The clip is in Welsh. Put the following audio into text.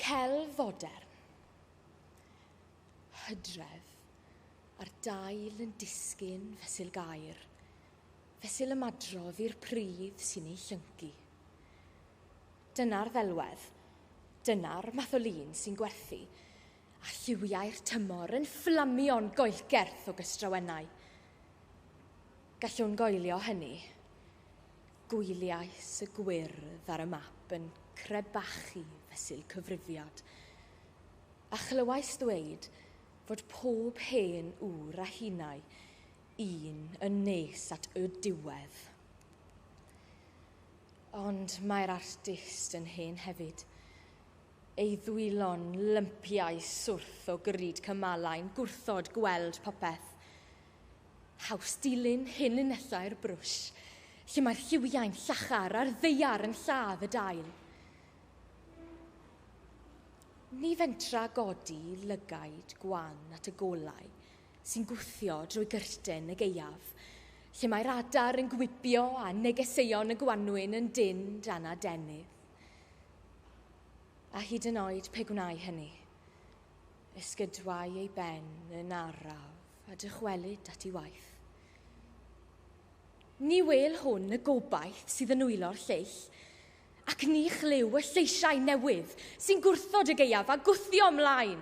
Celf fodern. Hydref, a'r dail yn disgyn fesul gair, fesul ymadrodd i'r pridd sy'n ei llyncu. Dyna'r ddelwedd, dyna'r math o lun sy'n gwerthu, a lliwiau'r tymor yn fflamio'n goelgerth o gystrawennau. Gallwn goelio hynny. Gwyliais y gwyrdd ar y map yn crebachu fesul cyfrifiad, a chlywais ddweud fod pob hen ŵr a hinau un yn nes at y diwedd. Ond mae'r artist yn hen hefyd, ei ddwylo'n lympiau swrth o grud cymalau'n gwrthod gweld popeth, Haws dilyn hyn yn nesau'r brwsh, lle mae'r lliwiau'n llachar a'r ddeiar yn lladd y dail. Ni fentra godi lygaid gwan at y golau sy'n gwthio drwy gyrten y gaeaf, lle mae'r adar yn gwibio a negeseuon y gwanwyn yn dynn dan adenydd. A hyd yn oed pe gwnai hynny, Esgydwai ei ben yn araf a dychwelyd at ei waith. Ni wel hwn y gobaith sydd yn wylo'r lleill, ac ni chlyw y lleisiau newydd sy'n gwrthod y gaeaf a gwthio ymlaen.